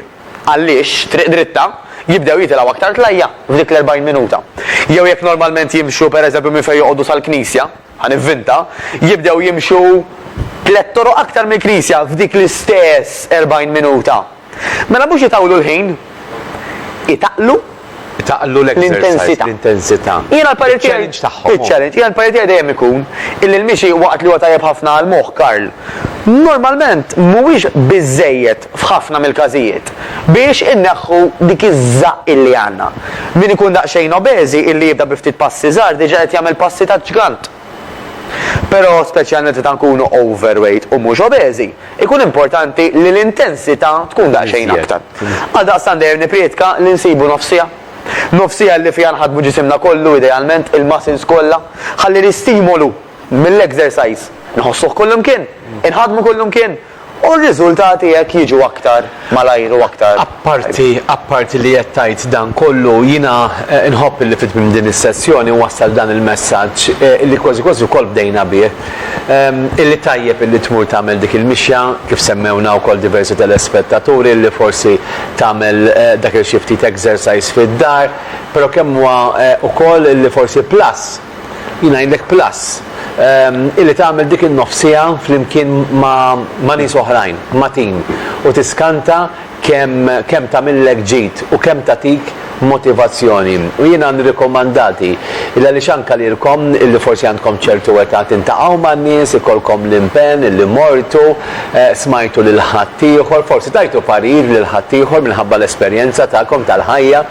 għal-lixx, triq dritta, jibdew jitilgħu aktar tlajja f'dik l-40 minuta. Jew jekk normalment jimxu pereżempju minn fejn joqogħdu sal-knisja, ħa nivvinta, jibdew jimxu tliet toroq aktar mill-knisja f'dik l-istess 40 minuta. Mela mhux itawlu l-ħin, itaqlu. Itaqlu l-exercise, l-intensità. Jiena l-parir tiegħi. Il-challenge tagħhom. Il-challenge. Jiena l-parir tiegħi dejjem ikun illi l-mixi waqt li huwa tajjeb ħafna għall-moħħ, Karl, normalment mhuwiex biżżejjed f'ħafna mill-każijiet biex inneħħu dik iż-żaqq illi għandna. Min ikun daqsxejn obeżi illi jibda bi ftit passi żgħar diġà qed jagħmel passi taġ-ġgant. Però, speċjalment meta nkunu overweight u mhux obeżi, ikun importanti li l-intensità tkun daqsxejn aktar. Għaldaqstant dejjem nipprietka li nsibu nofs siegħa. Nofs siegħa li fiha nħaddmu ġisimna kollu, idealment, il-muscles kollha, ħalli l-istimolu mill-exercise nħossuh kullimkien, inħaddmu kullimkien, U r-riżultati hekk jiġu aktar malajr u aktar. Apparti, apparti li qed tgħid dan kollu, jiena nħobb illi fi tmiem din is-sessjoni nwassal dan il-messaġġ, illi kważi kważi wkoll bdejna bih, illi tajjeb illi tmur tagħmel dik il-mixja, kif semmewna wkoll diversi telespettaturi, illi forsi tagħmel dak il-xi ftit exercise fid-dar, però kemm huwa wkoll illi forsi plus, Jien ngħidlek plus, illi tagħmel dik in-nofs siegħa flimkien ma' nies oħrajn, ma' tim, u tiskanta kemm tagħmillek ġid u kemm tagħtik motivazzjoni. U jiena nirrikomandati, illi għaliex anke lilkom illi forsi għandkom ċertu età tintalqgħu man-nies, ikollkom l-impenn illi mortu, smajtu lil ħaddieħor, forsi tajtu parir lil ħaddieħor minħabba l-esperjenza tagħkom tal-ħajja,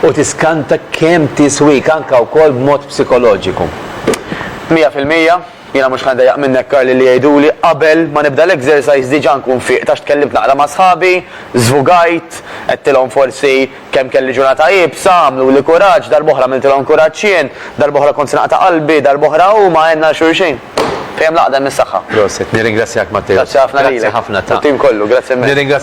u tiskanta kemm tiswik anke wkoll b'mod psikoloġiku. Mija fil-mija, jiena mhux ħa ndejjaq minnek Karli li jgħiduli qabel ma nibda l-exercise diġa nkun fieqt għax tkellimt naqra ma' sħabi, żvugajt, għedtilhom forsi kemm kelli ġurnata iebsa, għamluli kuraġġ, darb'oħra għamiltilhom kuraġġ jien, darb'oħra kont se naqta' qalbi, darb'oħra huma għenna 'l xulxin. Fejn hemm l-għaqda hemm is-saħħa. Prosit, nirringrazzjak Matteo. Grazzi ħafna lilek u t-tim kollu. Grazzi immens.